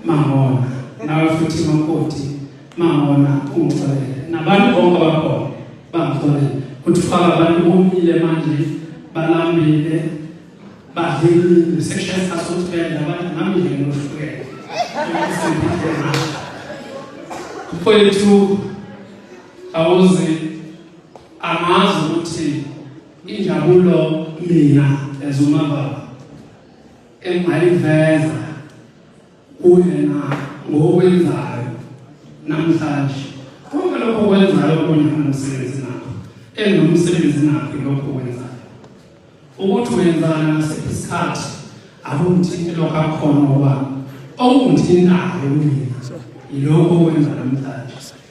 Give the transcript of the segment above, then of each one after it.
mangona nawe futhi makoti mangona ungixolele nabantu bonke abakhona bangixolele kuthi faka abantu bomile manje balambile badlile section sasotibele abantu nami nje ngohlukene mfowethu awuzi angazi ukuthi injabulo mina ezumababa engaliveza kuyena ngokwenzayo namhlanje konke lokho kwenzayo kunyana nomsebenzi nakho enomsebenzi nakho lokho kwenzayo ukuthi wenzana ngasiphi isikhathi akumthinte lokho akhona okwami okungithintayo kumina yilokho okwenza namhlanje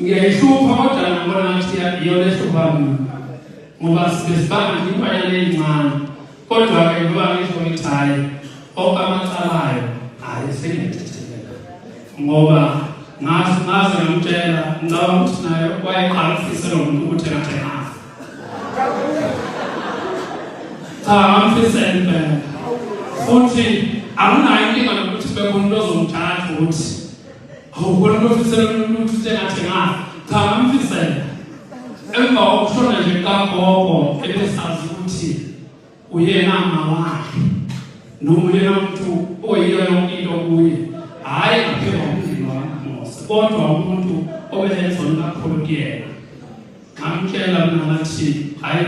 ngiyayihlupha kodwa ngibona ngathi iyona ehlupha mina ngoba sibesibanga nje imbanyana eyincane kodwa-ke ngoba ngisho ngithi hhayi onke amacalayo hhayi sengiyathetheleka ngoba ngazi ngaze ngamtshela ngicabanga ukuthi naye wayeqala ukufisa lo muntu ukuthi ngathi ngazi cha ngamfisela impela futhi akunayo inkinga nokuthi bekhona into ozomthatha ukuthi Awukona nofisela umuntu sengathi ngazi. Cha ngamfisela. Emva kokushona nje kagogo ebesazi ukuthi uyena mama wakhe. Noma uyena umuntu oyiyona into kuye. Hayi ngaphela umndeni wakaMose kodwa umuntu obelezona kakhulu kuyena. Ngamtshela mina ngathi hayi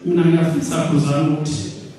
mina ngiyafisa kuzama ukuthi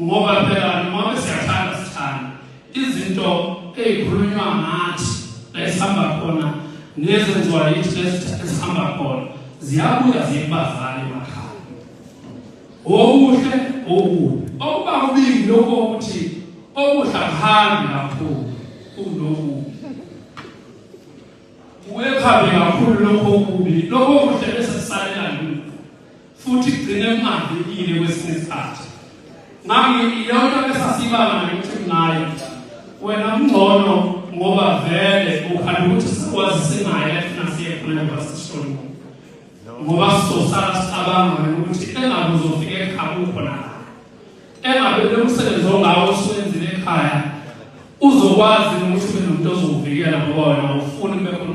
Ngoba phela noma siyathanda sithanda izinto ezikhulunywa ngathi esihamba khona nezenziwa yithi esihamba khona ziyabuya zibazale emakhaya. Okuhle okubi okuba kubili lokho ukuthi okuhle kuhambi kakhulu kunokubi. Uye phambi kakhulu lokho okubi lokho kuhle bese sisalela futhi kugcine kungavikile kwesinye isikhathi ngami iyona besasibanga nokuthi kunayo wena kungcono ngoba vele ukhanda ukuthi sikwazi sinaye efuna siye khona ngoba sishoni ngoba sizosala sicabanga ukuthi engabe uzofika ekhaya ukhona engabe lo msebenzi ongawo oswenzile ekhaya uzokwazi ukuthi ube nomuntu ozokuvikela ngoba wena ufuni kube khona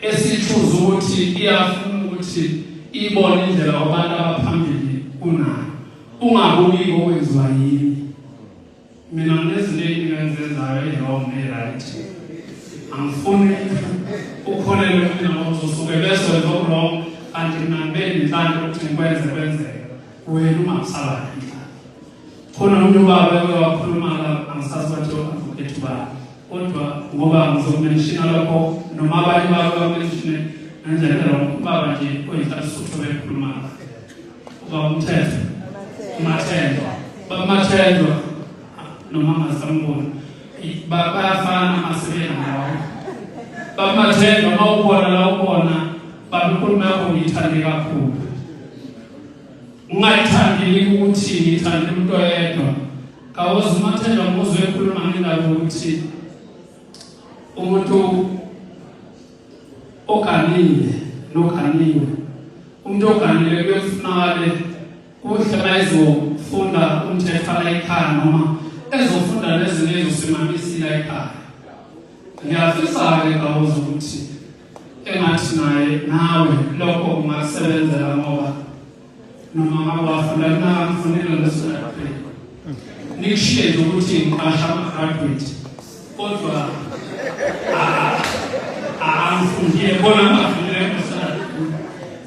esithuza ukuthi iyafuna ukuthi ibone indlela abantu abaphambili kunayo ungabuki ngokwenziwa yini mina nginezinto eziningi engizenzayo e-wrong ne-right angifuni ukholelwe mina ngozosuke bese wenza okulong kanti mina ngibe nenhlanhla ukuthi ngikwenze kwenzeka wena ungakusabani Khona umuntu ubaba eke wakhuluma la angisazi bathi advocate ubani kodwa ngoba ngizokumenshina lokho noma abanye babo bamenshine ngendlela phela ubaba nje oyinhlali suthu bekhuluma ubaba umthetho umathendwa baba umathendwa noma angasamboni bayafana amasebenzi ngawo baba umathendwa uma ubona la ubona baba inkulumo yakho ngiyithande kakhulu Ungayithandi yini ukuthi ngithande umuntu oyedwa? Kawozi umathela umuzwe ekhuluma ngendaba ukuthi umuntu oganile noganiwe umuntu oganile kuyofunakale kuhle bayizofunda umthetho la ekhaya noma ezofunda nezinye ezosimamisila ekhaya ngiyafisa-ke kawozi ukuthi engathi naye nawe lokho kungakusebenzela ngoba noma ngakwafuna kungakufunela lesonakhe nikushiye nje ukuthi ngiqasha ama-graduate kodwa angifundile bona ngafunile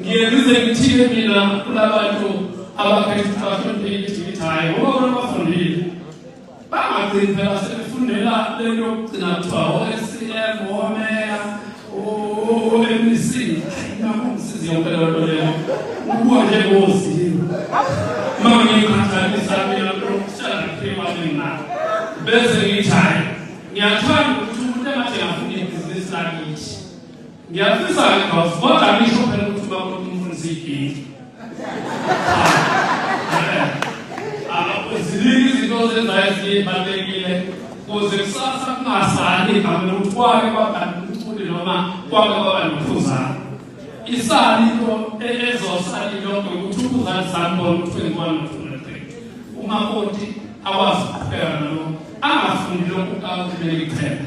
ngiye ngize ngithile mina kulabantu abaphethe abahloniphekile ukuthi hayi ngoba bona bafundile bangagcini phela sebefundela lento yokugcina kuthiwa o-scm omeya o-mec nakumsizi yonke leyo nto leyo ukuwa njengozimu ma ngiyikhathalisa mina lokuhlala ngiphiwa mina bese ngithi hayi ngiyathanda ukuthi umuntu engathi ngafunda ibhizinisi lakithi Ngiyafisa ke boss kodwa ngisho phela ukuthi uba umuntu umfundisa iginti. Ziningi izinto ozenzayo ezibalulekile kuze kusasa kungasali igama lokuthi kwake kwaba nomculi noma kwake kwaba nomfuzane. Isali into ezosali lonke ukuthi umfuzane sambona ukuthi wenziwani nofuna umakoti akwazi ukuqhubeka nalokho angafuni lokhu kakuthi bekuthela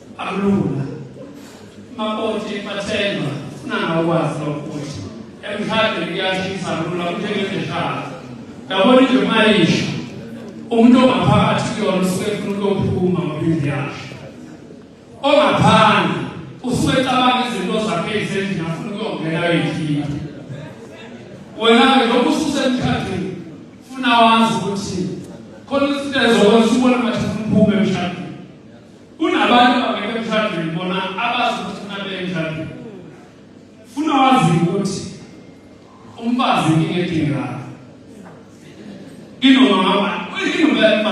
Akulula. Maboti bathenga funa ngakwazi lokuthi emhlabeni kuyashisa lula kunjengendeshana. Yabona nje mayisho umuntu ongaphakathi kuyona usuke efuna ukuyophuma ngophindi yakhe. Ongaphandle usuke ecabanga izinto zakhe ezendlini afuna ukuyongena ayoyikhipha. Wena-ke lokhu ususemkhathini funa wazi ukuthi khona izinto ezokwenza ubone ngathi uphuma emshadweni Kunabantu abangekho emshadweni bona abazi ukuthi funa beye emshadweni. Funa wazi ukuthi umfazi inkinga edingekayo. Inoma ngaba, inoma